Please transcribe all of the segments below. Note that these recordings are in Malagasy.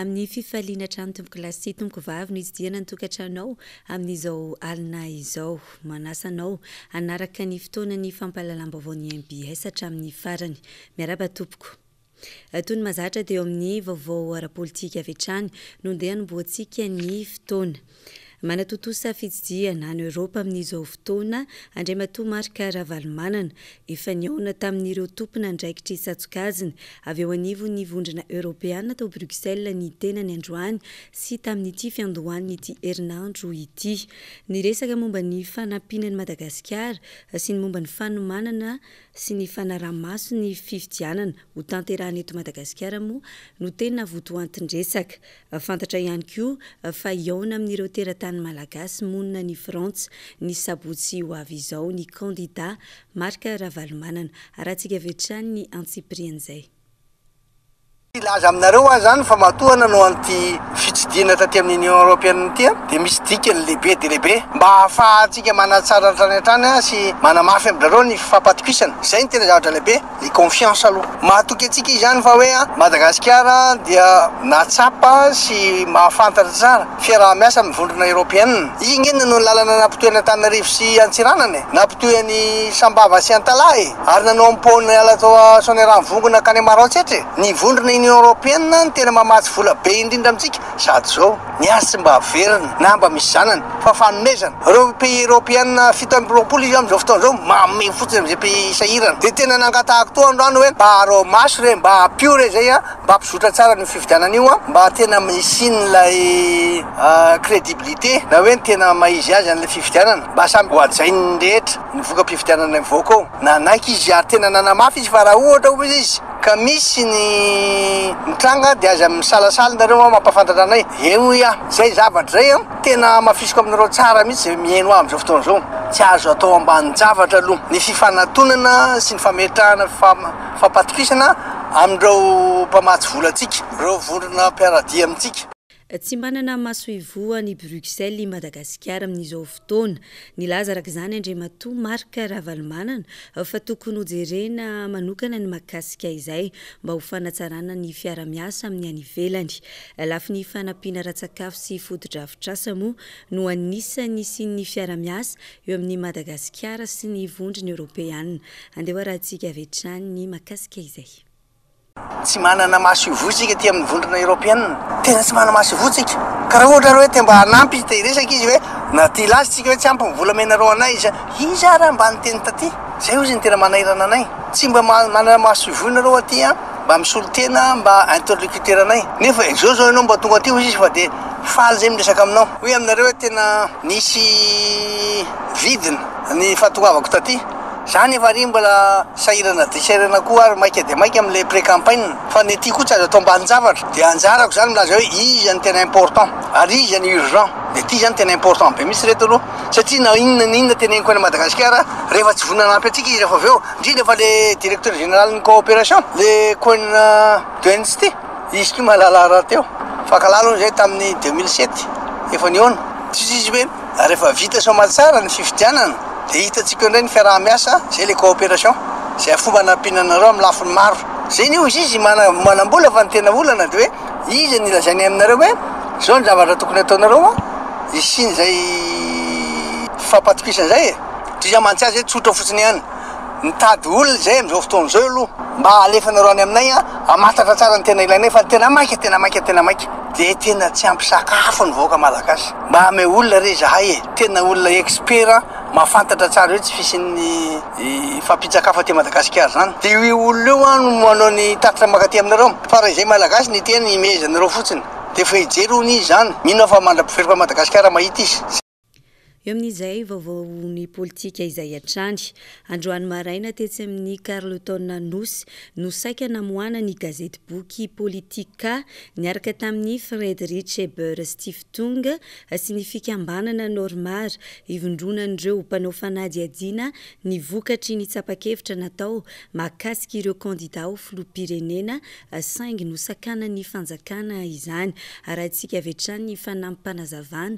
Amin'ny fifaliana hatrany tompoko lahy sy tompoko vavy no itsidihana ny tokantranonao amin'izao alina izao. Manasa anao hanaraka ny fotoanan'ny fampahalalam-baovao ny MBS hatramin'ny farany. Miarahaba tompoko. Toy ny mahazatra teo amin'ny vaovao ara-politika avy hatrany, nondeha hanombohantsika ny fotoana. Manatontosa fitsidihana any Eoropa amin'izao fotoana Andriamatoa Marc Ravalomanana. Efa nihaona tamin'ireo tompon'andraikitr'i Tsatokazina avy eo anivon'ny Vondrona Eoropeana tao Bruxelles ny tenany androany sy tamin'ity fiandohan'ity herinandro ity. Niresaka momba ny fanampiana an'i Madagasikara sy ny momba ny fanomanana sy ny fanaraha-maso ny fifidianana ho tanterahina eto Madagasikara moa no tena votoantin-dresaka. Fantatra ihany koa fa hihaona amin'ireo teratany malagasy monina any Frantsa ny sabotsy ho avy izao ny kandidà Marc Ravalomanana. Harantsika avy hatrany ny antsipirian'izay. Hilaza aminareo aho izany fa matoa nanao an'ity fitsidihana taty amin'ny Union Européenne ity aho dia misy dikany lehibe dia lehibe mba hahafahantsika manatsara hatrany hatrany sy manamafy amin-drareo ny fifampatokisana. Izay no tena zavatra lehibe, ny confiance aloha. Mahatoky antsika izany fa hoe Madagasikara dia nahatsapa sy mahafantatra tsara fiaraha-miasa amin'ny Vondrona Européenne. Iny ange no lalana nampitohy an'Antananarivo sy Antsiranana e, nampitohy an'i Sambava sy Antalaha e. ary nanao ny pont niala tao Soanierano Vongo nankany Maroantsetra e! ny vondrona Union Européenne no tena mamatsy vola be indrindra amintsika sady zao ny azy tsy mba averina na mba misy zanany fa fanomezana, reo pays Européenne fito amby roapolo izy amzao fotoana zao manome fotsiny amze pays sahirana de tena nangatahako toa androany oe mba arao maso re mba ampio re zay a mba ampizotra tsara anio fifidianana io a mba tena hisiany lay credibilité na oe ny tena maha izy azy anle fifidianana mba samy hohajainy rehetra. ny voka-pifidianana ny vahoaka ao. Nanaiky izy ary tena nanamafy izy fa raha ohatra hoy izy ka misy ny mitranga dia aza misalasala ianareo an, mampahafantatra anay. Eny hoy aho, izay zavatra izay an, tena hamafisiko aminareo tsara mihitsy izay mihaino ahy amin'izao fotoana izao. Tsy azo atao ambanin-javatra aloha ny fifanatonana sy ny fametrahana fifampatokisana amin'ireo mpamatsy vola antsika, ireo vondrona mpiara-dia amintsika. Tsy manana masoivoho any Bruxelles i Madagasikara amin'izao fotoana. Nilaza araka izany Andriamatoa Marc Ravalomanana fa tokony hojerena manokana ny mahakasika izay mba ho fanatsarana ny fiara-miasa amin'ny any ivelany. Lafiny fanampiana ara-tsakafo sy fotodrafitrasa moa no anisan'ny hisian'ny fiara-miasa eo amin'i Madagasikara sy ny vondrona eoropeana. Andeha hoarahantsika avy hatrany ny mahakasika izay. Tsy manana maso ivoho isika aty amin'ny vondrona eropeana. Tena tsy manana maso ivoho isika. Ka raha ohatra ary hoe te mba hanampy, te hiresaka izy hoe na tia laza isika hoe tsy ampy ny volamena roanay iza, iza ary mba niteny taty? Izay hozy ny tena manairana anay. Tsy mba manana maso ivoho ianareo aty an, mba misolo tena mba interlocuteur anay. Nefa izao izao ianao mba tonga aty hozy izy fa dia faly izay miresaka aminao. Hoe aminareo hoe tena nisy vidiny ny fahatongavako taty. Za nefa ary mbola sahirana dia sahirana koa ary maika dia maika amin'ilay pré-campagne fa ny aty koa tsy azo atao ambanin-javatra. Dia anjarako izany milaza hoe iza no tena important ary iza no urgent. Dia ity izany tena important be mihitsy ireto aloha satria na inona na inona teneniko any Madagasikara rehefa tsy vonona hanampy antsika izy rehefa avy eo, indrindra fa ilay directeur généralin'ny coopération, ilay coin de Nsty, izy ity mahalala rahateo. Fakalala hono izay tamin'ny deux mille sept, efa nihaona, tsy izy ve? Rehefa vita soamaly tsara ny fifidianana dia hitantsika eo indray ny fiaraha-miasa, izay ilay coopération, izay fomba hanampiana anareo amin'ny lafiny maro. Izay ny hozy izy manam-bola fa ny tena olana dia hoe iza ny lazainy aminareo hoe izao ny zavatra tokony hataonareo an, hisian'izay fifampatokisana izay e. Toy izay mantsy azy hoe tsotra fotsiny ihany. Mitady olona izay amin'izao fotoana izao aloha mba alefanareo any aminay an, hamantatra tsara ny tena ilainay fa ny tena maika, tena maika, tena maika dia tena tsy ampy sakafo ny vahoaka malagasy. Mba ameo olona re izahay e, tena olona expert mahafantatra tsara eo tsy fisian'ny fampitsakafo aty Madagasikara izany dia io olona io an no manao ny tatitra mankaty aminareo fa raha izay malagasy ny teny imehezanareo fotsiny dia efa hijery hono izy izany, mino aho fa mandra-piveroka an'i Madagasikara mahita izy. Eo amin'izay, vaovaon'ny politika izay hatrany. Androany maraina, tetsy amin'ny Carlton Anosy, no saika namoahana ny gazetiboky Politica, niaraka tamin'ny Friedrich Ebert Stiftung sy ny fikambanana Normar, ivondronan'ireo mpanao fanadihadiana ny vokatry ny tsapa-kevitra natao mahakasika ireo kandida ho filoham-pirenena, saingy nosakanan'ny fanjakana izany. Arahintsika avy hatrany ny fanampim-panazavana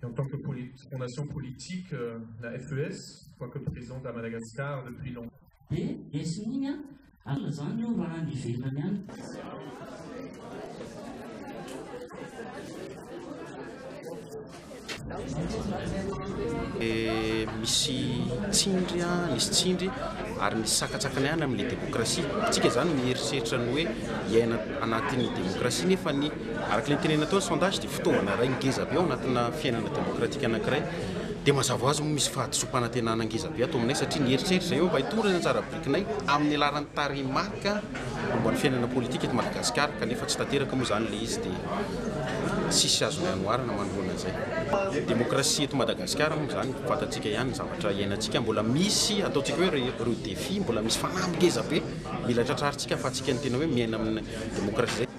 Et en tant que fondation politique, euh, la FES, quoique présente à Madagascar depuis longtemps. Et, et significa, alla zany io raha any ivelany any. Et misy tsindry a, misy tsindry ary misy sakatsakana ihany amin'ny demokrasia. Tsika zany mieritreritra ny hoe hiaina anatin'ny demokrasia nefa ny Araka ilay nitenenina tao ny sondage dia fitaovana iray ngeza be ao anatina fiainana demokratika anankiray. Dia mazava ho azy moa misy fahadisoam-panantenana ngeza be ato aminay satria ny eritreritra izay eo mba hitondra ny anjara birikinay amin'ny laharan'ny tarehimarika momba ny fiainana politika eto Madagasikara kanefa tsy tanteraka moa izany ilay izy dia tsisy azonay anoharana manoloana izay. Demokrasia eto Madagasikara moa izany fantatsika ihany ny zavatra iainantsika mbola misy ataontsika hoe ireo défis mbola misy fanahy ngeza be mila tratrarintsika ahafahantsika ny tena hoe miaina amin'ny demokrasia izay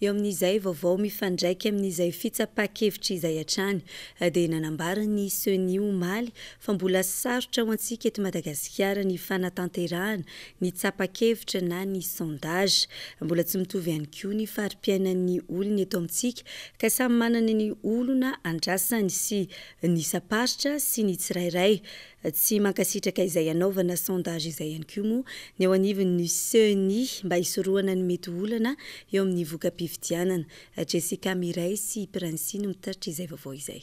Eo amin'izay vaovao mifandraika amin'izay fitsapa-kevitra izay hatrany dia nanambara ny Ceni omaly fa mbola sarotra ho antsika eto Madagasikara ny fanatanterahana ny tsapa-kevitra na ny sondage. Mbola tsy mitovy ihany koa ny fari-piainan'ny olona eto amintsika ka samy manana ny olona andrasany sy ny isam-paritra sy ny tsirairay Tsy mankasitraka izay hanaovana sondage izay ihany koa moa ny eo anivon'ny Ceni mba hisorohana ny mety ho olana eo amin'ny voka-pifidianana. Jessica Mireille sy Princie no mitatitra izay vaovao izay.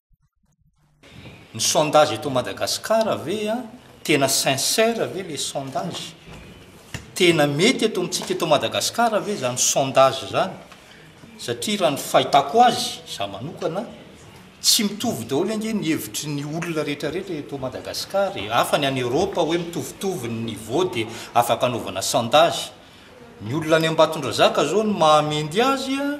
Ny sondage eto Madagascar ve a, tena sincère ve le sondage? Tena mety eto amintsika eto Madagascar ve zany sondage zany? Satria raha ny fahitako azy, za manokana, tsy mitovy daholo ange ny hevitry ny olona rehetra rehetra eto Madagascar e, hafa ny any Europe hoe mitovitovy ny niveau dia afaka anaovana sondage, ny olona any Ambatondrazaka zao no mahamendy azy a,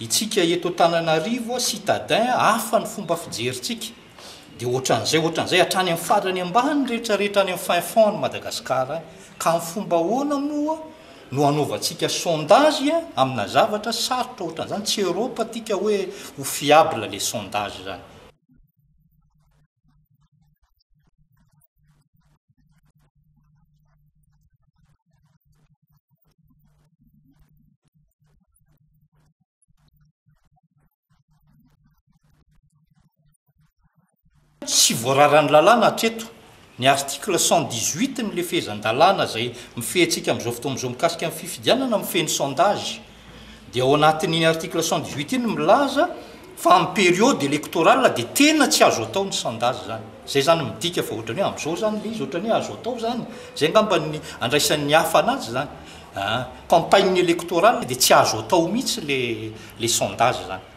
Itsika eto Antananarivo citadin hafa ny fomba fijerintsika dia ohatran'izay ohatran'izay hatrany amin'ny farany ambany rehetra rehetra any amin'ny fin fond ny Madagascar any ka amin'ny fomba ahoana moa no hanaovantsika sondage amina zavatra sarotra ohatran'izany tsy Europe atika hoe ho fiable le sondage zany. tsy voararan'ny lalàna hatreto ny article cent dix huit ny lefezan-dalàna izay mifehy antsika amin'izao fotoana izao mikasika ny fifidianana mifehy ny sondage Dia ao anatin'iny article cent dix huit iny milaza fa amin'ny période électorale dia tena tsy azo atao ny sondage izany. Izay izany midika fa ohatran'ny hoe amin'izao izany ilay izy ohatran'ny hoe azo atao izany. Izay angamba ny andraisan'ny hafa anazy izany. Ah, campagne électorale dia tsy azo atao mihitsy le le sondage izany.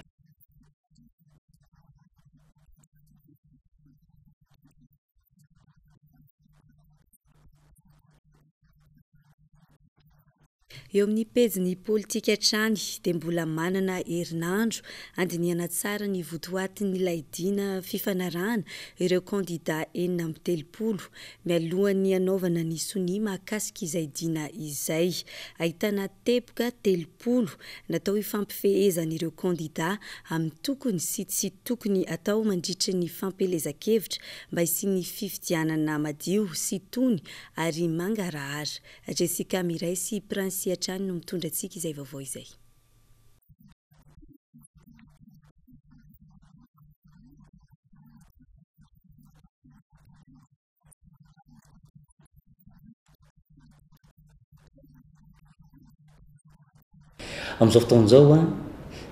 Eo amin'ny pejin'ny politika hatrany dia mbola manana herinandro handinihana tsara ny votoatin'ilay dina fifanarahana ireo kandida enina amby telopolo mialohan'ny hanaovana ny sonia mahakasika izay dina izay. Ahitana teboka telo. valopolo natao hifampifehezan'ireo kandidà amin'ny tokony sy tsy tokony atao mandritry ny fampielezan-kevitra mba hisian'ny fifidianana madio sy tony ary mangarahara. Jessica Miray sy Princey hatrany no mitondra antsika izay vaovao izay. Amin'izao fotoana izao a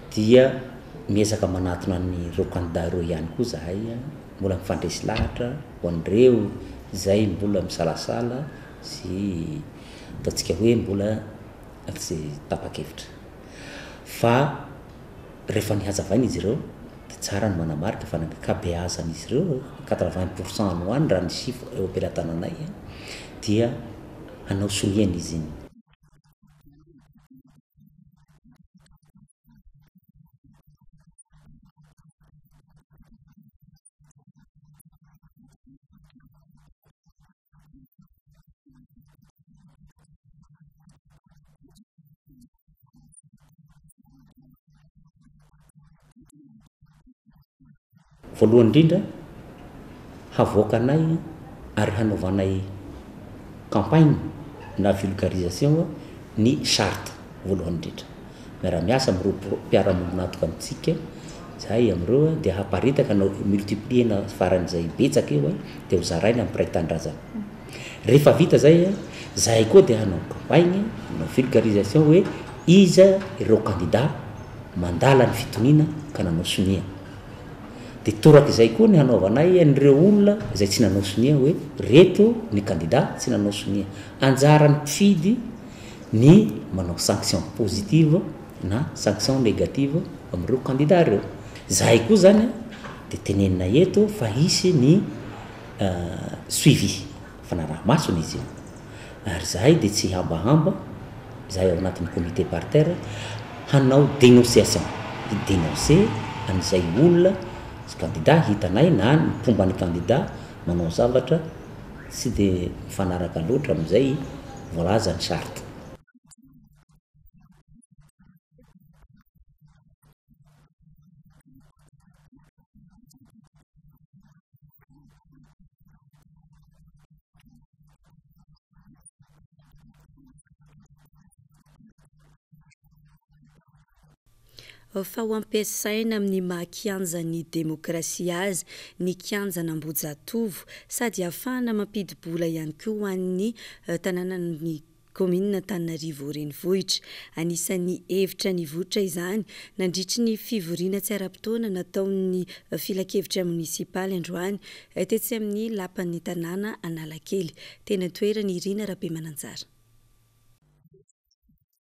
dia miezaka manatona an'ireo kandidà ireo ihany koa zahay a, mbola mifandresy lahatra ho an'ireo izay mbola misalasala sy ataontsika hoe mbola tsy tapa-kevitra fa Rehefa nihazavaina izy ireo dia tsara ny manamarika fa ny ankabeazan'izy ireo, quatre vingt pour cent any ho any raha ny chiffre eo am-pelatananay, dia hanao sonia ny izin. voalohany indrindra havoakanay ary hanaovanay campagne na vulgarisation ny charte voalohany indrindra miara-miasa amin'ireo mpiara-miombon'antoka amintsika izahay amin'ireo dia haparitaka na multiplier-na faran'izay betsaka eo dia hozaraina amin'ny mpiray tanindrazana. Rehefa vita izay, izahay koa dia hanao campagne, hanao vulgarisation hoe iza ireo kandida mandala ny fitoniana ka nanao sonia. Dia torak'izay koa ny hanaovanay an'ireo olona izay tsy nanao sonia hoe ireto ny kandida tsy nanao sonia. Anjaran'ny mpifidy. ny manao sanction positive na sanction negative amin'ireo kandida ireo. Izahay koa izany dia tenenina eto fa hisy ny suivi, fanaraha-masony izy io. Ary izahay dia tsy hambahamba, izahay ao anatin'ny comité paritaire, hanao dénonciation, hi-dénoncer an'izay olona sy kandida hitanay na ny mpomba ny kandida manao zavatra, Tsy dia mifanaraka loatra amin'izay voalaza ny charte. Fa ho ampiasaina amin'ny maha kianjan'ny demokrasia azy ny kianjan'Ambohijatovo, sady hahafahana mampidi-bola ihany koa ho an'ny tanànan'ny kaominina Antananarivo Renivohitra. Anisan'ny hevitra nivoitra izany nandritry ny fivoriana tsy ara-potoana nataon'ny filankevitra monisipaly androany tetsy amin'ny lapan'ny tanàna Analakely, teny an-toerana, i Rina Rabemananjara.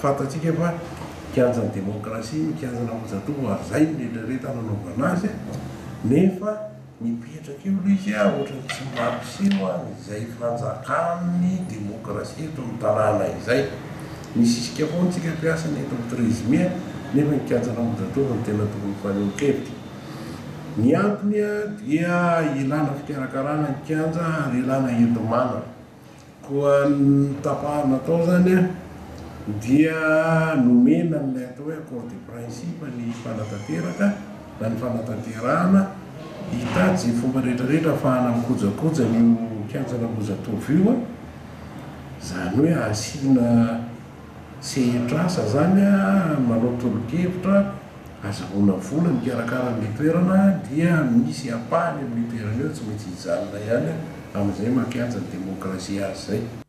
Fantatsika fa kianjan'ny demokrasia, ny kianjan'Ambohijatovo ary izay no eritreretana hanaovana azy nefa. Mipetraka eo aloha izy a, ohatran'ny tsy mampiseho an'izay fanjakan'ny demokrasia eto amin'ny tanàna izay. Misisika foana isika mpiasa ny eto amin'ny Trésmie nefa ny kianjan'Ambohijatovo no tena tokony fanehoan-kevitra. Ny antony dia ilàna fikarakarana ny kianja ary ilàna enti-manana. Koa ny tapahana atao izany dia nomena an'ilay atao hoe accord de principe ny mpanatanteraka na ny fanatanterahana hitady izay fomba rehetra rehetra hahafahana mikojakoja an'io kianjan'Ambohijatovo io, izany hoe asiana sehetr'asa izany, manao tolo-kevitra. Azahoana vola mikarakara an'ilay toerana dia misy ampahany amin'io toerana io tsy maintsy hijanona ihany amin'izay maha-kianja ny demokrasia azy izay.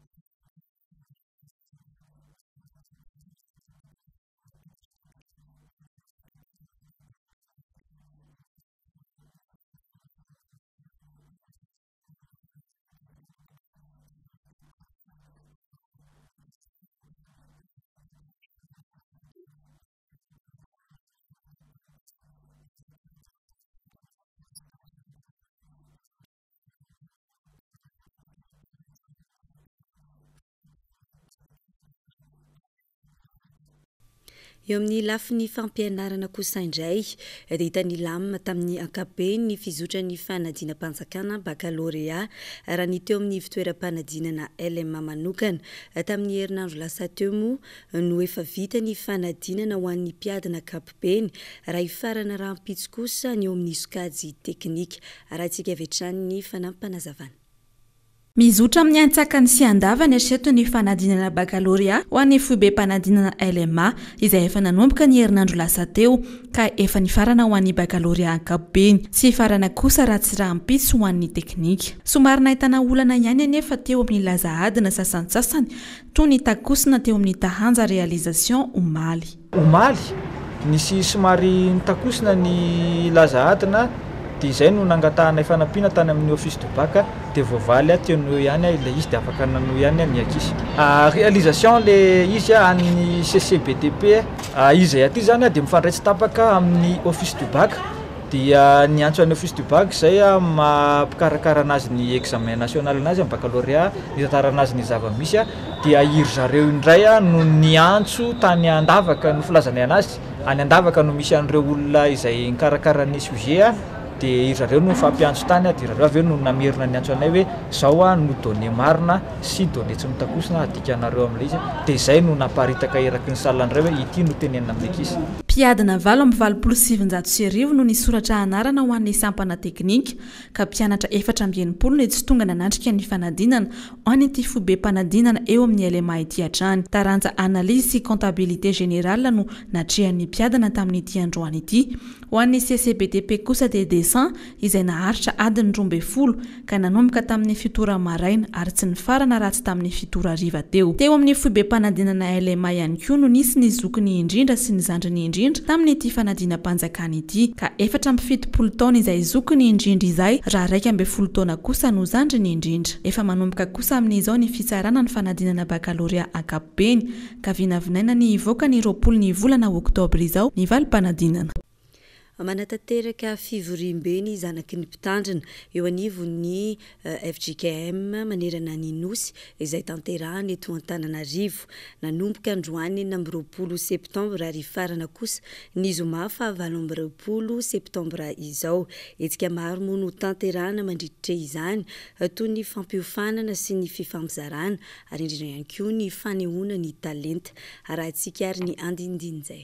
Eo amin'ny lafiny fampianarana kosa indray dia hitan'i Lam tamin'ny ankapobeny ny fizotran'ny fanadinam-panjakana bakalorea raha ny teo amin'ny fitoeram-panadinana LMA manokana. Tamin'ny herinandro lasa teo moa no efa vita ny fanadinana ho an'ny mpiady ankapobeny raha hifarana rahampitso kosa ny eo amin'ny sokajy teknika. Arahintsika avy hatrany ny fanampim-panazavana. Mizotra amin'ny antsakany sy andavany hatreto ny fanadinana bakalorea ho an'ny foibem-panadinana LMA izay efa nanomboka ny herinandro lasa teo ka efa nifarana ho an'ny bakalorea ankapobeny sy hifarana kosa raha tsy rahampitso ho an'ny teknika. Somary nahitana olana ihany anefa teo amin'ny laza adina sasantsasany Toa nitakosina teo amin'ny Taranja Réalisation omaly. Omaly, nisy somary nitakosina ny laza adina dia izay no nangatahanay fanampiana tany amin'ny Office du Bac dia voavaly ahy teo noho ihany aho ilay izy dia afaka nanohy ihany aho ny ankizy. Réalisation ilay izy an'ny CCBTP. Izay aty izany dia mifandray tsy tapaka amin'ny Office du Bac Dia niantso an'i Office du Bac izay amin'ny maha mpikarakara anazy ny examen national anazy amin'ny baccalauréat, nitantara anazy ny zava-misy, dia i ry zareo indray no niantso tany Andavaka no filazanay anazy, any Andavaka no misy an'ireo olona izay nikarakara ny sujet, dia i ry zareo no nifampiantso tany, dia ry zareo avy eo no namerina niantso anay hoe izao no données marina, Sidon etsy mitakosina adika anareo amin'ilay izy dia izay no naparitaka eraky ny salle indray hoe ity no tenenina amin'ny ankizy. Mpiadina valo amby valopolo sy sivinjato sy arivo no nisoratra anarana ho an'ny sampana teknika ka mpianatra efatra amby enimpolo no tsy tonga nanatrika ny fanadinana ho an'ity fobem-panadinana eo amin'ny LMA ity hatrany. Taranja Analyse sy Comptabilité Générale no natrehan'ny mpiadina tamin'ity androany ity. Ho an'ny CCBTP kosa dia Dessin, izay naharitra adiny roa ambin'ny folo ka nanomboka tamin'ny fito ora maraina ary tsy nifarana raha tsy tamin'ny fito ora hariva teo. Teo amin'ny foibem-panadinana LMA ihany koa no nisy ny zokiny indrindra sy ny zandriny indrindra tamin'ity fanadinam-panjakana ity ka efatra amby fitopolo taona izay zokiny indrindra izay raha iraika ambin'ny folo taona kosa no zandriny indrindra. Efa manomboka kosa amin'izao ny fitsarana ny fanadinana bakalorea ankapobeny ka vinavinaina ny hivoaka ny roapolo ny volana oktobra izao ny valim-panadinana. Manatanteraka fivoriambe ny zanaky ny mpitandrina, eo anivon'ny fjkm manerana ny Nosy, izay tanterahana eto Antananarivo. Nanomboka androany enina amby roapolo septambra ary hifarana kosa ny zoma fahavalo amby roapolo septambra izao. Hetsika maro moa no tanterahana mandritr'e izany, toy ny fampiofanana sy ny fifampizarana ary indrindra ihany koa ny fanehoana ny talenta. Arahintsika ary ny andinindin'izay.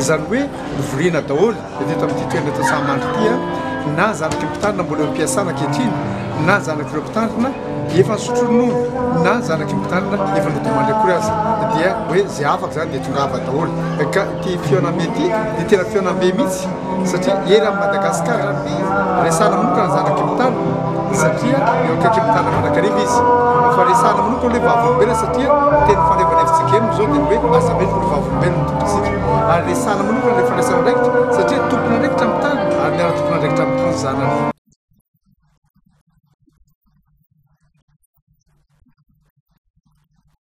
Izany hoe hovoriana daholo eto eto amin'ity toerana eto Sahamandry ity na zanak'ireo mpitandrina mbola eo am-piasana ankehitriny na zanak'ireo mpitandrina efa nisotro ronono na zanak'ireo mpitandrina efa nodimandry akory aza dia hoe izay afaka izany dia tongava daholo ka ity fihaonambe ity dia tena fihaonambe mihitsy satria ery amin'i Madagasikara ny resahana manokana ny zanak'i Mtana satria eo akaikin'i Mtana mandrakariva izy fa resahana manokana hoe vavolombelona satria teny fanaovana hevitsika eny izao dia ny hoe aza mino fa vavolombelona ny tompontsika ary resahana manokana ilay fandraisana andraikitra satria tompon'andraikitra amin'ny tany ary miara tompon'andraikitra amin'ny tany zanany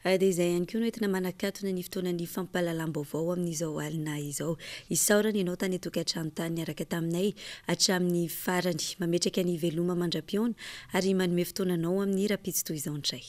Dia izay ihany koa no entina manakatona ny fotoanan'ny fampahalalam-baovao amin'izao alina izao. Isaorana ianao tany an-tokantrano tany niaraka taminay hatramin'ny farany. Mametraka ny veloma mandra-pihaona ary manome fotoana anao amin'ny rahampitso toy izao indray.